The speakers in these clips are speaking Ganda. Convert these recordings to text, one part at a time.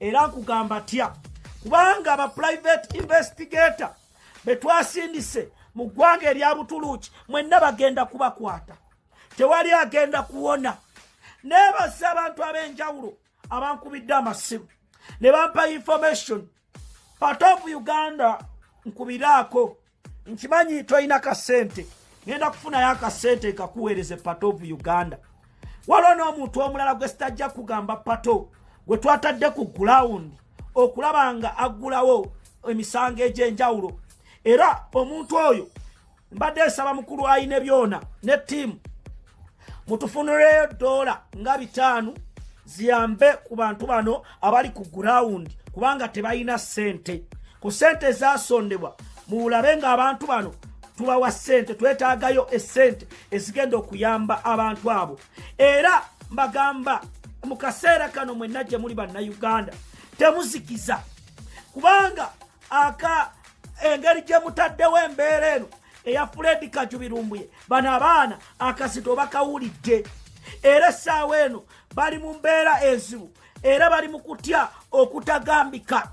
era nkugamba tya kubanga aba private investigator betwasindise mu ggwanga erya butuluuki mwenna bagenda kubakwata tewali agenda kuwona neebazza abantu ab'enjawulo abankubidde amasimu ne bampa information part of uganda nkubiraako nkimanyi tolina kasente ngenda kufunayo akasente kakuweereze pato of uganda waliwo n'omuntu omulala gwe sitajja kugamba pato gwe twatadde ku gulawundi okulaba nga aggulawo emisango egy'enjawulo era omuntu oyo mbadde nsaba mukulu ayine byona ne tiimu mutufunuleyo doola nga bitaano ziyambe ku bantu bano abali ku gurawundi kubanga tebalina ssente ku ssente ezasondebwa muwulabe ng'abantu bano tubawa ssente twetaagayo essente ezigenda okuyamba abantu abo era mbagamba mu kaseera kano mwenna gye muli bannayuganda temuzikiza kubanga aka engeri gye mutaddewo embeera eno eya fred kajubi lumbuye bano abaana akasita oba kawulidde era essaawa eno bali mu mbeera enzibu era bali mu kutya okutagambika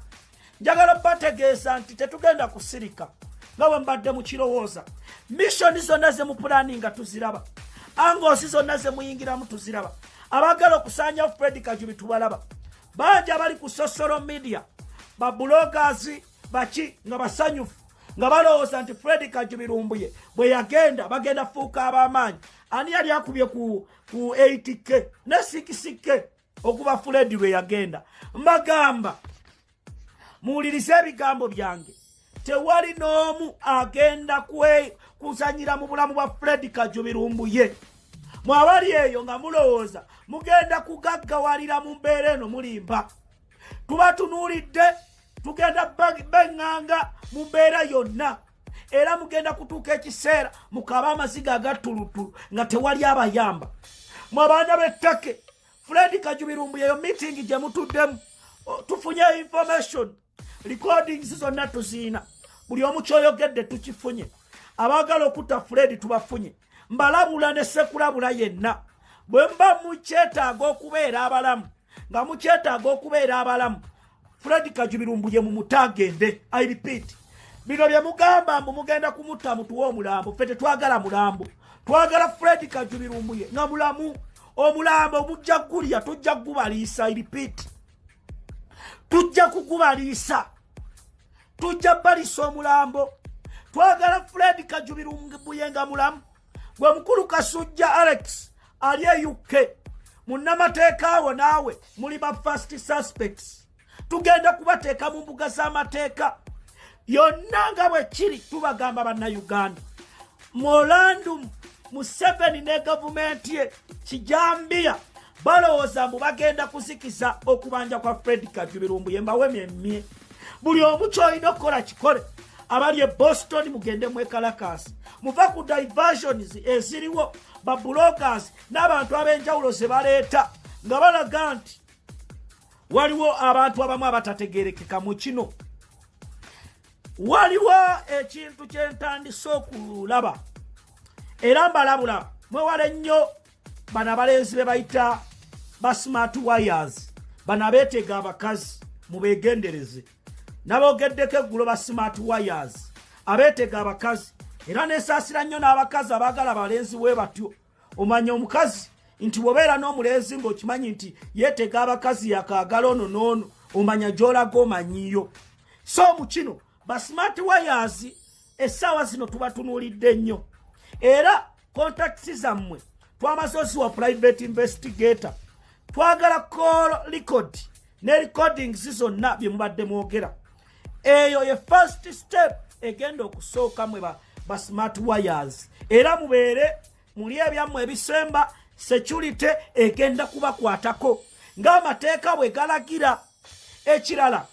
njagala bategeeza nti tetugenda kusirika nga bwe mbadde mu kirowooza missoni zonna ze mu pulaani nga tuziraba angoosi zonna ze muyingiramu tuziraba abagala okusanyawo fred kajubi tubalaba bangi abali ku sosolo media babulogazi baki nga basanyufu nga balowooza nti fredi kajubi lumbuye bwe yagenda bagenda fuuka ab'amaanyi ani yali akubye ku 8k ne 6k okuba fredi lwe yagenda mbagamba muwulirize ebigambo byange tewali n'omu agenda kuzanyira mu bulamu bwa fredi kajubi lumbuye mwabali eyo nga mulowooza mugenda kugaggawalira mu mbeera eno mulimba tubatunuulidde tugenda benganga mu mbeera yonna era mugenda kutuuka ekiseera mukaba amaziga agattulutulu nga tewali abayamba mu abaana b'ettake fred kajubirumbu yeyo mitingi gye mutuddemu tufunye information recordings zonna tuziina buli omu kyoyogedde tukifunye abaagala okutta fred tubafunye mbalabula ne sekulabula yenna bwe mba mukyetaaga okubeera abalamu nga mukyetaaga okubeera abalamu Fred Kajubiru mbuye mu mutagende I repeat bino bye mugamba mbu mugenda kumutta mutuwa omulambo ffe tetwagala mulambo twagala Fred Kajubiru mbuye nga mulamu omulambo omujja gulya tujja gubaliisa I repeat tujja kugubaliisa tujja balisa omulambo twagala Fred Kajubiru mbuye nga mulamu gwe mukulu kasujja alex ali e uk munnamateeka wo naawe muli ba first suspects tugenda kubateeka mu mbuga z'amateeka yonna nga bwe kiri tubagamba bannayuganda molandum museveni ne gavumenti ye kijambiya balowooza mbu bagenda kuzikiza okubanja kwa fred kajubirwa mbu yembawo emyemye buli omu kyolina okukola kikole abali e boston mugende mwekalakaasi muva ku diversions eziriwo babulogas n'abantu ab'enjawulo ze baleeta nga balaga nti waliwo abantu abamu abatategerekeka mu kino waliwo ekintu kyentandise okulaba era mbalabula mwewale nnyo bano abalenzi be bayita ba smart wires bano abeetega abakazi mubeegendereze naboogeddeko eggulo ba smart wires abeetega abakazi era nesaasira nnyo n'abakazi abaagala abalenzi we batyo omanya omukazi nti bwobeera n'omulenzi ng'okimanyi nti yeetega abakazi yakaagala ono n'ono omanya gy'olaga omanyiyo so mu kino ba smart wires essaawa zino tubatunuulidde nnyo era contacts zammwe twamaze oziwa private investigator twagala call record ne recordings zonna bye mubadde mwogera eyo ye first step egenda okusooka mwe ba, ba smart wires era mubeere muli ebyammwe ebisemba security egenda kubakwatako ng'amateeka bwe galagira ekirala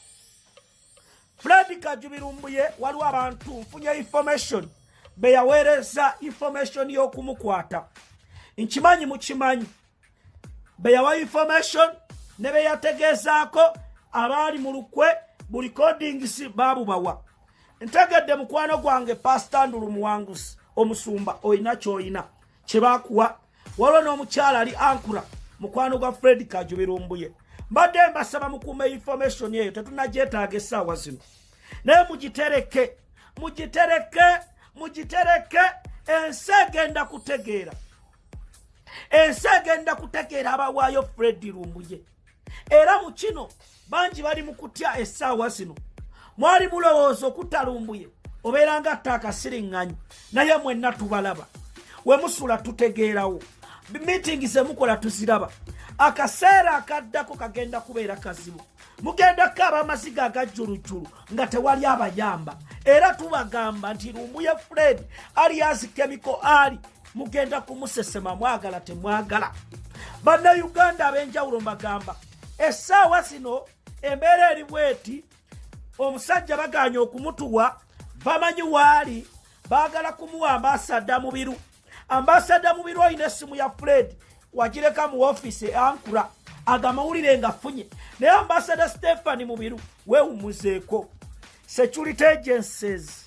Fred Kajubi Lumbuye waliwo abantu nfunye information be yaweereza information y'okumukwata nkimanyi mukimanyi be yawa information ne be yategeezaako abaali mu lukwe bu recordings baabubawa ntegedde mukwano gwange pasita ndulu muwanguzi omusumba olina kyolina kyebakuwa waliwo n'omukyala ali ankura mukwano gwa fred kajubilumbuye mbadde mbasaba mukuuma information eyo tetunagyetaaga essaawa zino naye mugitereke mugitereke mugitereke ensi egenda kutegeera ensi egenda kutegeera abawaayo fred lumbuye era mu kino bangi bali mu kutya essaawa zino mwali mulowooza okutalumbuye obeera nga atta akasiriŋŋanyi naye mwenna tubalaba we musula tutegeerawo miitingi ze mukola tuziraba akaseera akaddako kagenda kubeera kazibu mugenda kukaaba amaziga agajjulujjulu nga tewali abayamba era tubagamba nti lumbuye fred ali azikemiko ali mugenda kumusesema mwagala temwagala bannayuganda ab'enjawulo mbagamba essaawa zino embeera eri bweti omusajja baganye okumutuwa bamanyi waali baagala kumuwa ambasada mubiru ambasada mubiru olina essimu ya fred wagireka mu ofiisi eankura agamawulire nga funye naye ambasada stephani mubiru wewumuzeeko security agencies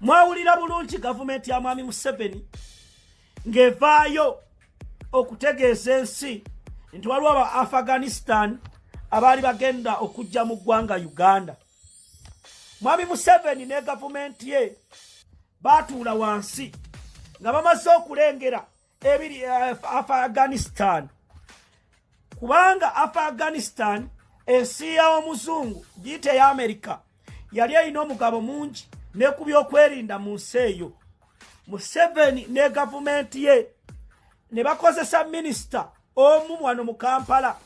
mwawulira bulungi gavumenti ya mwami museveni ng'evaayo okutegeeza ensi nti waliwo aba afghanistan abaali bagenda okujja mu ggwanga uganda mwami museveni ne gavumenti ye baatuula wansi nga bamaze okulengera ebiri eh, afghanistan kubanga afghanistan ensi yawomuzungu giyita eya amerika yali erina omugabo mungi ne ku byokwerinda mu nsi eyo museveni ne gavumenti ye ne bakozesa minisita omu wano mu kampala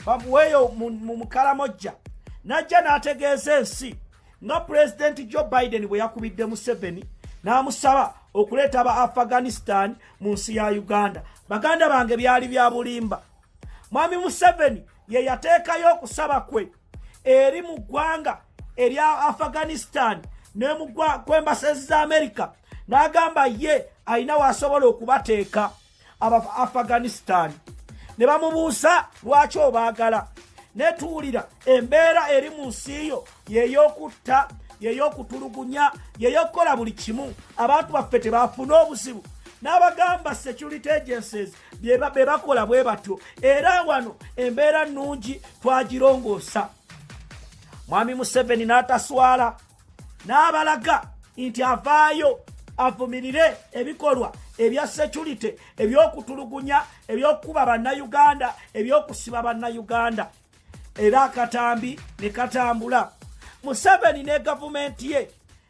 bamuweeyo mu mukalamojja n'ajja n'ategeeza ensi nga pulezidenti joe biden bwe yakubidde museveni n'amusaba okuleeta aba afghanistan mu nsi ya uganda baganda bange byali bya bulimba mwami museveni ye yateekayo okusaba kwe eri mu ggwanga erya afghanistan ne mu kwembasezi za amerika n'agamba ye alina waasobola okubateeka abava afghanistan ne bamubuusa lwaki obaagala netuwulira embeera eri mu nsi yo yeyokutta yeyokutulugunya yeyokukola buli kimu abantu baffe tebafuna obuzibu n'abagamba security agencies be bakola bwe batyo era wano embeera nnungi twagirongoosa mwami museveni n'ataswala n'abalaga nti avaayo avumirire ebikolwa ebya security ebyokutulugunya ebyokukuba bannayuganda ebyokusiba bannayuganda era akatambi ne katambula museveni ne gavumenti ye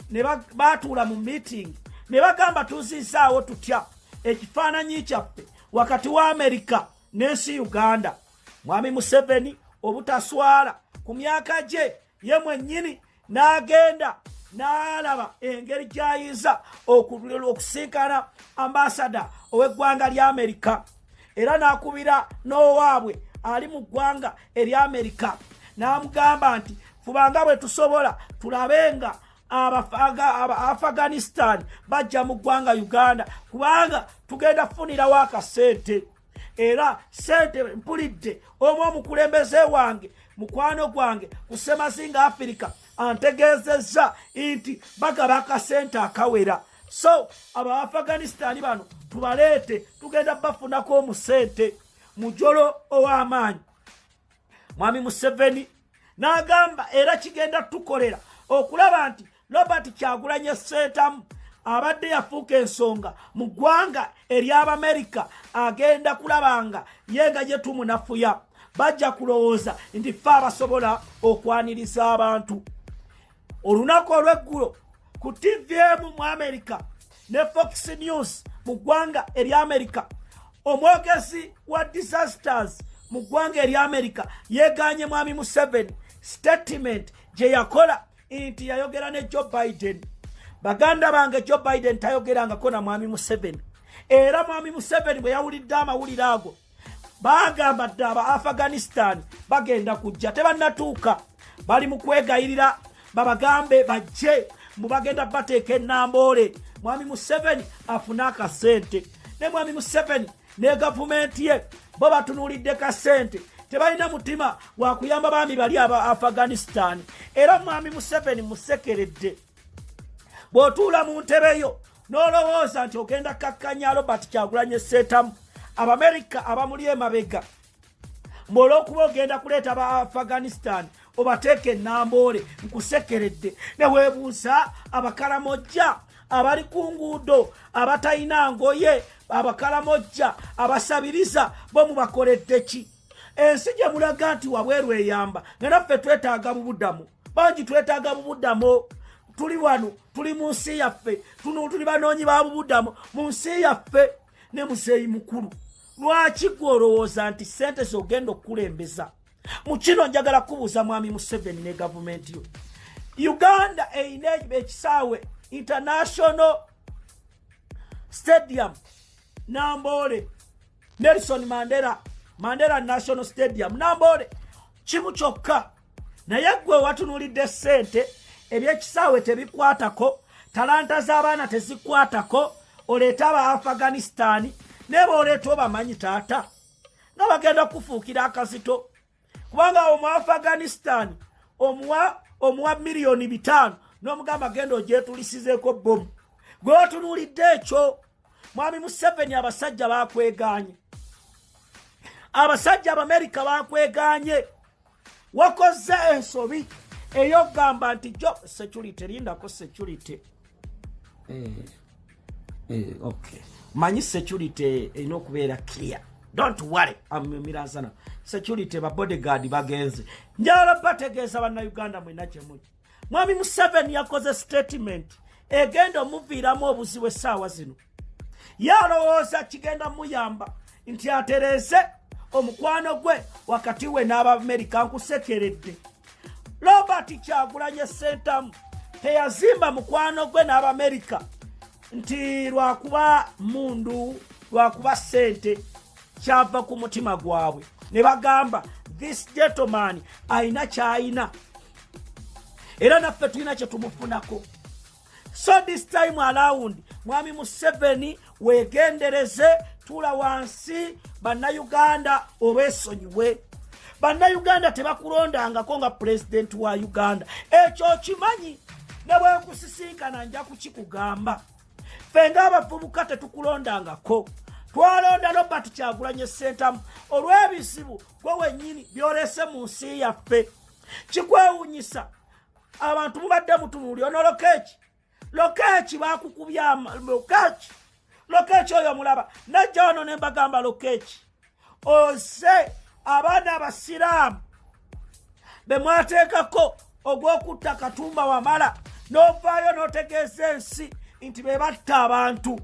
ne baatuula mu meeting ne bagamba tuzizaawo tutya ekifaananyi kyaffe wakati wa amerika n'ensi uganda mwami museveni obutaswala ku myaka gye ye mwennyini n'agenda n'alaba engeri gy'ayinza okulula okusinkana ambasada ow'eggwanga lya amerika era n'akubira n'owaabwe ali mu ggwanga erya amerika n'amugamba nti fubanga bwe tusobola tulabe nga abaafghanistan bajja mu ggwanga uganda kubanga tugenda kufunirawo akasente era sente mpulidde omu omukulembeze wange mukwano gwange ku semazinga afirika antegeezezza nti bagaba akasente akawera so abo abaafghanisitaani bano tubaleete tugenda bafunako omusente mujolo ow'amaanyi mwami museveni n'agamba era kigenda tukolera okulaba nti robert kyagulanye seetamu abadde yafuuka ensonga mu ggwanga ery'abamerika agenda kulaba nga ye nga gye tumunafuya bajja kulowooza nti fe abasobola okwaniriza abantu olunaku olw'eggulo ku tivi emu mu amerika ne fox news mu ggwanga erya amerika omwogezi wa disasters mu ggwanga erya amerika yegaanye mwami museveni statement gye yakola nti yayogera ne joe biden baganda bange joe biden tayogerangako na mwami museveni era mwami museveni bwe yawulidde amawulire ago bagamba dde aba afghanistan bagenda kujja tebanatuuka bali mu kwegayirira babagambe bajje mbu bagenda bateeka enamboole mwami museveni afune akasente ne mwami museveni ne gavumenti ye bo batunuulidde ka ssente tebalina mutima wakuyamba baami bali aba afghanistan era mwami museveni musekeredde bw'otuula mu ntebe yo n'olowooza nti ogenda kakkanya robert kyagulanye seetamu abamerika abamuli emabega mbolwokuba ogenda kuleeta ba afghanistan obateeka enamboole nkusekeredde newebuusa abakalamojja abali ku nguudo abatalina ngoye abakalamojja abasabiriza bo mubakoleddeki ensi gye mulaga nti wabweru eyamba nga naffe twetaaga bubudamu bangi twetaaga bubudamu tuli wano tuli mu nsi yaffe tuli banoonyi ba bubudamu mu nsi yaffe ne muzeeyi mukulu lwaki gwe olowooza nti sente zogenda okukulembeza mu kino njagala kubuuza mwami museveni ne gavumenti yo uganda erina ekisaawe international stadium namboole nelson mandela mandela national stadium namboole kimu kyokka naye gwe watunulidde ssente ebyekisaawe tebikwatako talanta z'abaana tezikwatako oleeta aba afghanistani naye baoleeta obamanyi taata nga bagenda kufuukira akazito kubanga awo mu afghanistani omuwa omuwa miliyoni bitaano n'omugamba genda ogyetulisizeeko bomu gwe watunulidde ekyo mwami museveni abasajja bakweganye abasajja abamerika bakweganye wakoze ensobi eyogamba nti jo security lindako security eh, eh, okay. manyi security erina okubeera clear don't worry amirazana security babodyguard bagenze njala bategeeza bannauganda mwena kyemuli mwami museveni yakoze sitatimenti egenda omuviiramu obuzibu essaawa zino yalowooza kigenda muyamba nti atereeze omukwano gwe wakati we n'abamerika nkusekeredde robert kyagulanye sentamu teyazimba mukwano gwe n'abamerika nti lwakuba mundu lwakuba sente kyava ku mutima gwabwe ne bagamba this gentleman ayina kyayina era naffe tulina kyetumufunako so this time around mwami museveni wegendereze tula wansi bannayuganda obesonyiwe bannayuganda tebakulondangako nga pulezidenti wa uganda ekyo okimanyi ne bwekusisinkana nja kukikugamba ffe ngaabavubuka tetukulondangako twalonda robert kyagulanye sentamu olw'ebizibu gwe wennyini byolese mu nsi yaffe kikwewunyisa abantu mubadde mutunuli ono lokeeki lokeeki bakukubya lokeeki lokeeki oyo mulaba najja wano ne mbagamba lokeeki ose abaana abasiraamu be mwateekako ogw'okutta katumba wamala n'ovaayo n'otegeeza ensi nti be batta abantu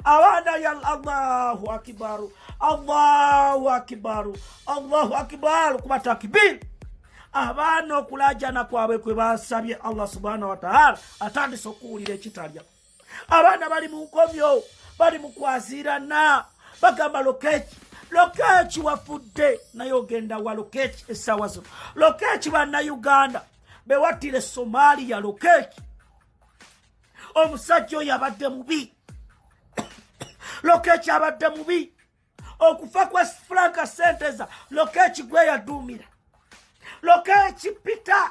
abaana ya allahu akibaru allahu akibaru allahu akibaru kuba takibiri abaana okulajana kwabwe kwe basabye allah subhana wataala atandise okuwulira ekitalya abaana bali mu nkomyo bali mu kwazirana bagamba lokeki lokeki wafudde naye ogenda wa lokeki essaawa zino lokeki bannauganda bewattire somaliya lokeki omusajja oyo abadde mubi lokeeki abadde mubi okufa kwa franka senteza lokeeki gwe yaduumira lokeeki peter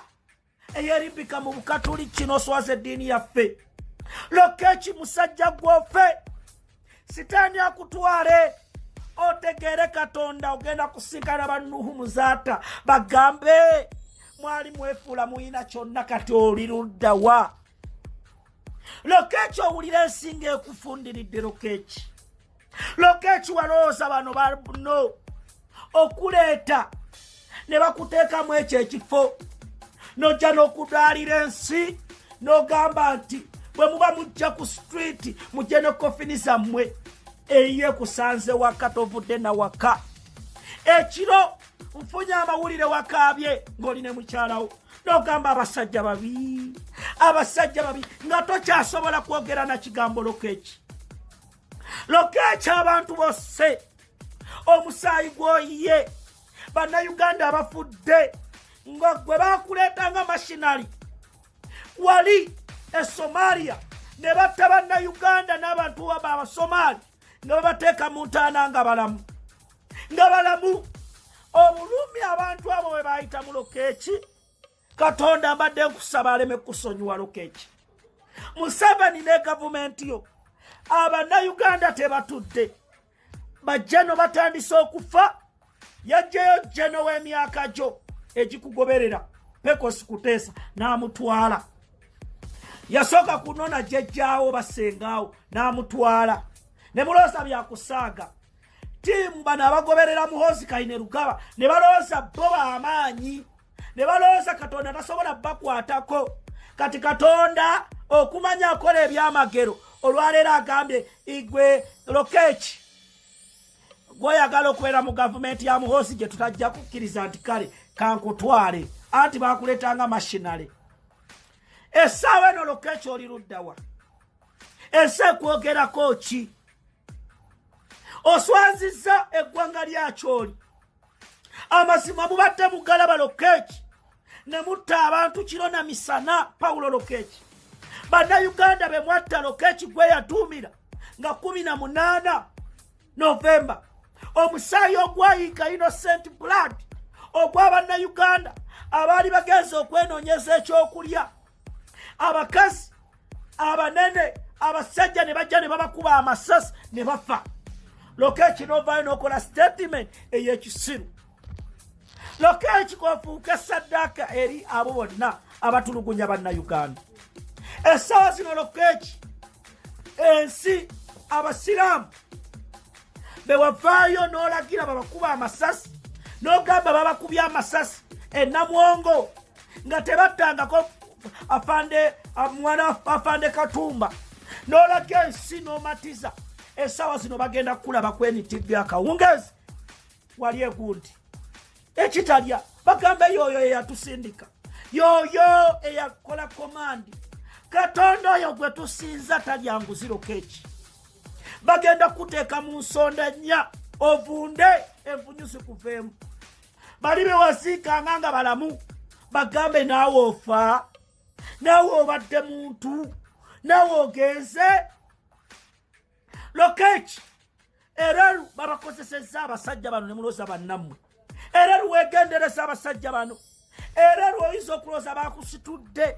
eyerimbika mu bukatuli kino oswaza eddiini yaffe lokeeki musajja gwofe sitaani akutwale otegeere katonda ogenda kusinkana bannuhu muzaata bagambe mwali mwefuula muyina kyonna kati oli luddawa lokeeki owulira ensinga ekufundiridde lokeeki lokeeki walowooza bano bano okuleeta ne bakuteekamu ekyo ekifo nojja n'okudaalira ensi n'ogamba nti bwe muba mujja ku sitwiti mujje ne kofini zammwe eyiye kusanze waka tovudde na waka ekiro nfunye amawulire wakaabye ng'oli ne mukyalawo nogamba abasajja babi abasajja babi nga tokyasobola kwogera na kigamboloka eki lokeekyo abantu bosse omusaayi gwoyiye bannayuganda abafudde nga gwe bakuleeta nga mashinali wali e somalia ne batta bannayuganda n'abantu waba abasomaali nga babateeka mu ntaana nga balamu nga balamu obulumi abantu abo bwe baayita mulokeeki katonda mbadde nkusaba aleme kusonyiwa lukeki museveni ne gavumenti yo abannayuganda tebatudde bajjano batandise okufa yajjayo jjano w'emyaka gyo egikugoberera pekosi kuteesa n'amutwala yasooka kunona jjajjaawo basengaawo n'amutwala ne mulooza byakusaaga tiimu bano abagoberera muhozi kaine lugaba ne balooza bo bamaanyi ne balowooza katonda tasobola bakwatako kati katonda okumanya akola ebyamagero olwaleero agambye igwe lokeki gwoyagala okubeera mu gavumenti ya muhoosi gye tutajja kukkiriza nti kale kankutwale anti bakuleetanga mashinale essaawa eno lokeki oli luddawa ensi ekwogerako ki oswaziza eggwanga lyakyoli amazima mubadde mugalaba lokeeki ne mutta abantu kiro na misana pawulo lokeeki bannayuganda be mwatta lokeeki gwe yatuumira nga kumi na munaana novemba omusaayi ogwayiika innocent blood ogwa bannayuganda abaali bagenza okwenoonyeza ekyokulya abakazi abanene abasajja ne bajja ne babakuba amasasi ne bafa lokeeki novaayo nokola statement eyekisiru lokeeki kofuuka saddaaka eri abo bonna abatulugunya bannayuganda essaawa zino lokeeki ensi abasiraamu bewavaayo n'olagira babakuba amasasi n'ogamba babakubye amasasi enamwongo nga tebattangako afande mwana afande katumba nolaga ensi nomatiza esawa zino bagenda kukulaba kwenitibbi akawungezi wali egundi ekitalya bagamba yoyo eyatusindika yoyo eyakola komandi katonda oyo gwe tusinza talya nguziro keki bagenda kuteeka mu nsonda nnya ovunde envunyuzi kuveemu bali bewasiikanga nga balamu bagambe naawe ofa naawe obadde muntu naawe ogenze lokeki era babakozesezza abasajja bano ne mulooza bannammwe era lwegendereza abasajja bano era lwoyinza okulooza bakusitudde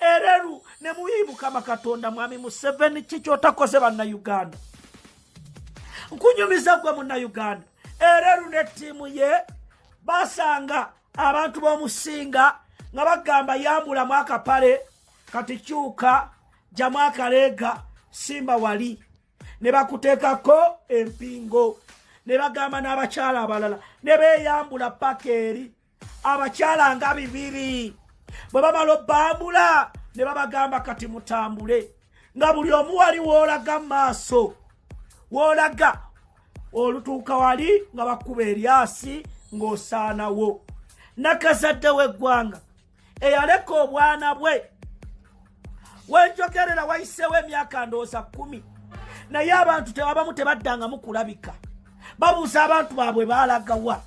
ereru ne muyi mukama katonda mwami museveni ki kyotakoze bannauganda nkunyumiza gwe munnauganda ereru ne ttiimu ye basanga abantu b'omusinga nga bagamba yambulamu akapale kati kyuka jamu akaleega simba wali ne bakuteekako empingo ne bagamba n'abakyala abalala ne beeyambula paka eri abakyala nga bibiri bwe bamala obbambula ne babagamba kati mutambule nga buli omu wali woolaga mu maaso woolaga olutuuka wali nga bakuba eryasi ng'osaanawo nakazadde w'eggwanga eyaleka obwana bwe wenjogerera wayiseewo emyaka ndowooza kumi naye abantu tebabamu tebaddangamu kulabika babuuza abantu baabwe baalagawa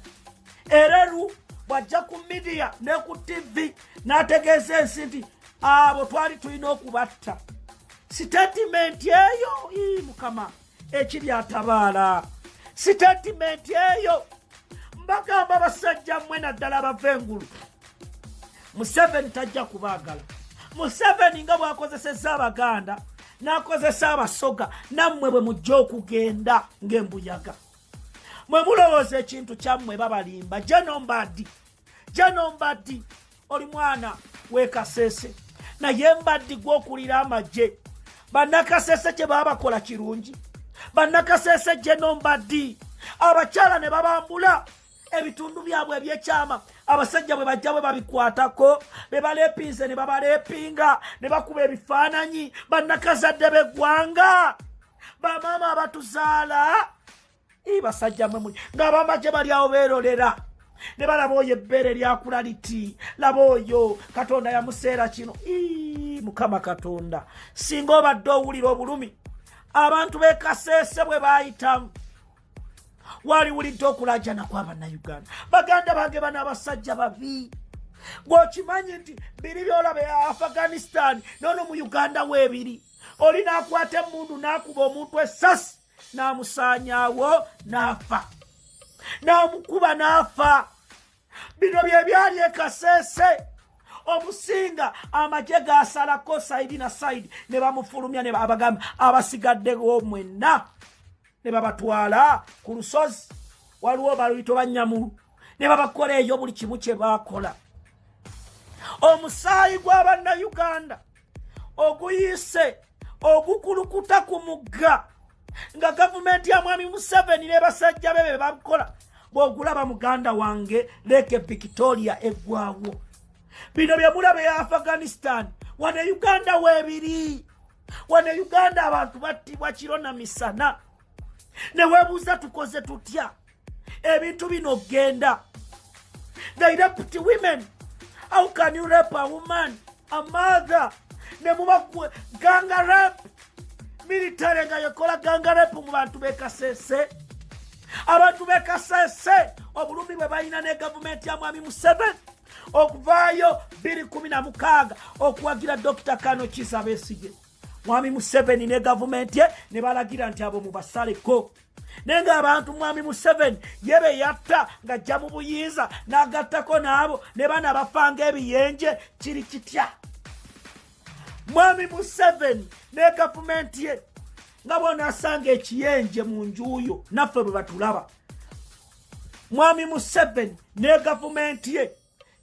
era lu bwajja ku midiya ne ku tivi n'ategeeza ensi nti abo twali tulina okubatta sitatimenti eyo ii mukama ekiri atabaala sitatimenti eyo mbagamba basajja mmwe naddala abava engulu museveni tajja kubaagala museveni nga bwakozeseza abaganda n'akozesa abasoga nammwe bwe mujja okugenda ng'embuyaga mwe mulowooza ekintu kyammwe babalimba jenombadi jenombadi oli mwana wekasese naye mbaddigwa okulira amagye bannakasese kye baabakola kirungi bannakasese gyenombaddi abakyala ne babambula ebitundu byabwe ebyekyama abasajja bwe bajja bwe babikwatako be baleepinze ne babaleepinga ne bakuba ebifaananyi bannakazadde b'eggwanga bamaama abatuzaala basajja mwe muli ng'abamaje bali awo beerolera ne balaba oyo ebbeere lyakula liti laba oyo katonda yamuseera kino mukama katonda singa obadde owulira obulumi abantu bekaseese bwe baayitamu waliwulidde okulajana kwa bannayuganda baganda bange bana abasajja babi gweokimanyi nti biri byolaba e afghanistan nono mu uganda weebiri oli nakwata emundu nakuba omuntu esasi n'amusaanyaawo n'afa n'amukuba n'afa bino bye byali ekaseese omusinga amagye gasalako saidi na saidi ne bamufulumya ne babagamba abasigaddewo mwenna ne babatwala ku lusozi waliwo baluyito banyamulu ne babakola eyo buli kimu kye baakola omusaayi gw'abannayuganda oguyiise ogukulukuta ku mugga nga gavumenti ya mwami museveni ne basajja be be bakola bwogulaba muganda wange leeke victoria eggwawo bino bye mulaba e afghanistan wano e uganda weebiri wano e uganda abantu battibwa kiro na misana ne weebuuza tukoze tutya ebintu bino genda they raped women how can you rape a woman a mother ne muba ganga rape military nga yekola ganga rape mu bantu bekasese abantu bekasese obulumi bwe balina ne gavumenti ya mwami museven okuvaayo 216 okuwagira dokita kano kisa besige mwami museveni ne gavumenti ye ne balagira nti abo mubasaleko naye ng'abantu mwami museveni ye be yatta ng'ajja mu buyinza n'agattako n'abo ne bana bafanga ebiyenje kiri kitya mwami museveni ne gavumenti ye nga bona asanga ekiyenje mu njuuyo naffe bwe batulaba mwami museveni ne gavumenti ye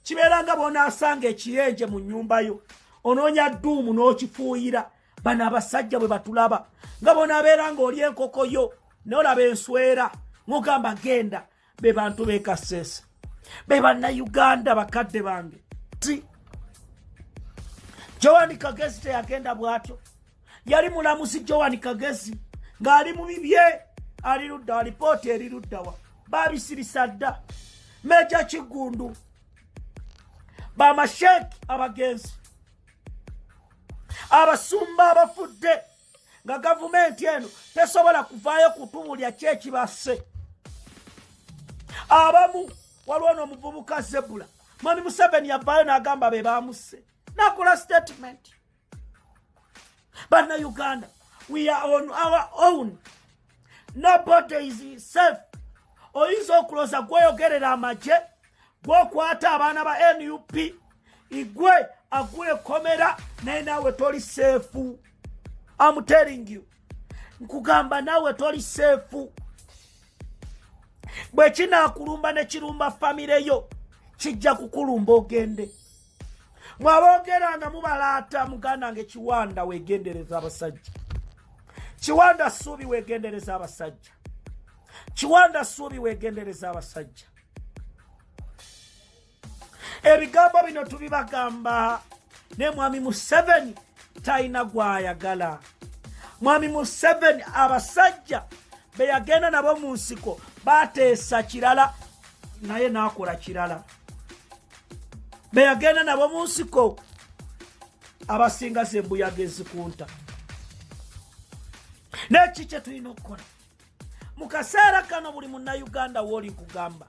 kibeera nga bwonaasanga ekiyenje mu nnyumba yo onoonya dduumu n'okifuuyira bano abasajja bwe batulaba nga bonaabeera ng'oli enkoko yo nolaba enswera ng'ogamba genda be bantu bekaseesa be bannayuganda bakadde bange ti joani kagezi teyagenda bw'atyo yali mulamuzi joan kagezi ng'ali mu bibye ali luddawa lipooti eri luddawa babisirisa dda meja kiggundu bamasheeki abagenzi abasumba abafudde nga gavumenti eno tesobola kuvaayo kutubulya kyekibasse abamu waliwo n'omuvubuka zebula mwami museveni yavaayo n'agamba be baamusse nakola sitatimenti Bana Uganda, we are on our own. Nobody is safe. Oyinza okuloza gweyogerera amagye gwokwata abaana ba nup igwe agwekomera naye nawe toli seefu am telling you nkugamba nawe toli seefu bwekinakulumba nekirumba famire yo kijja kukulumba ogende mwaboogera nga mubalaata muganda nge kiwanda wegendereza abasajja kiwanda suubi wegendereza abasajja kiwanda suubi wegendereza abasajja ebigambo bino tubibagamba ne mwami museveni talina gwayagala mwami museveni abasajja beyagenda nabo mu nsiko bateesa kirala naye nakola kirala beyagenda nabo mu nsiko abasinga zembuyaga ezikunta naye ki kyetulina okukola mu kaseera kano buli munnayuganda wooli kugamba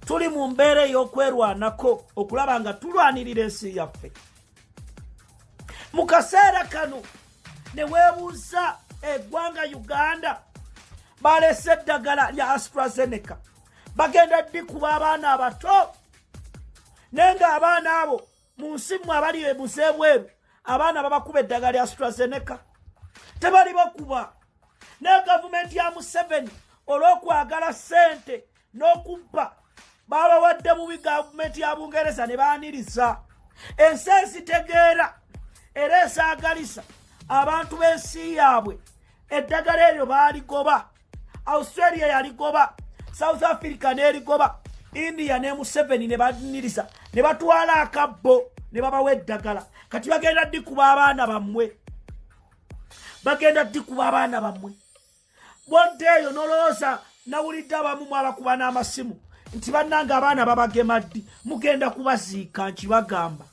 tuli mu mbeera ey'okwerwanako okulaba nga tulwanirira ensi yaffe mu kaseera kano ne weebuuza eggwanga uganda balese eddagala lya astrazeneca bagenda ddi kuba abaana abato naye nga abaana abo mu nsi mwe abali ebuze ebweru abaana babakuba eddagala lya strazeneka tebali bakuba naye gavumenti ya museveni olw'okwagala sente n'okubba babawadde bubi gavumenti ya bungereza ne baaniriza ensi ezitegeera era esaagalisa abantu b'ensi yaabwe eddagala eryo baaligoba australia yaligoba south africa neligoba india ne museveni ne baniriza ne batwala akabbo ne babawa eddagala kati bagenda dikuba abaana bammwe bagenda dikuba abaana bammwe bodde eyo nolowooza nawulidde abamu mwabakuba n'amasimu nti bannanga abaana babagemaddi mugenda kubaziika nkibagamba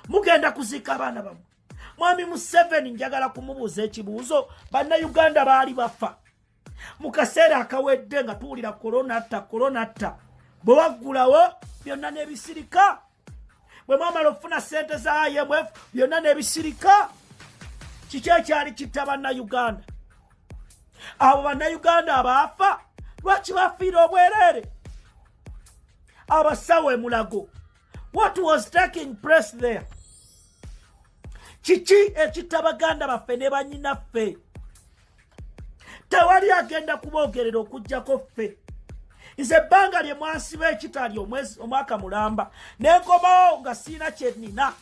mugenda kuziika abaana bammwe mwami museveni njagala kumubuuza ekibuuzo bannayuganda baali bafa mu kaseera akawedde nga tuwulira kolonatta kolonatta bwe waggulawo byonna n'ebisirika bwe mwamala okufuna ssente za imf byonna n'ebisirika kiki ekyali kitta bannayuganda abo bannayuganda abaafa lwaki bafiire obwereere abasawo emulago What was taking place there? Kiki ekitta baganda baffe ne banyinaffe? Tewali agenda kuboogerera okujjako ffe. Nze ebbanga lye mwasiba ekitali omwaka mulamba ne nkomawo nga siina kye nnina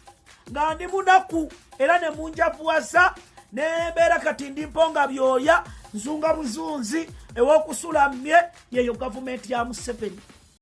nga ndi munaku era ne munjavuwaza ne mbeera kati ndi mponga byoya nzunga buzunzi ew'okusula mmye yeyo gavumenti ya museveni.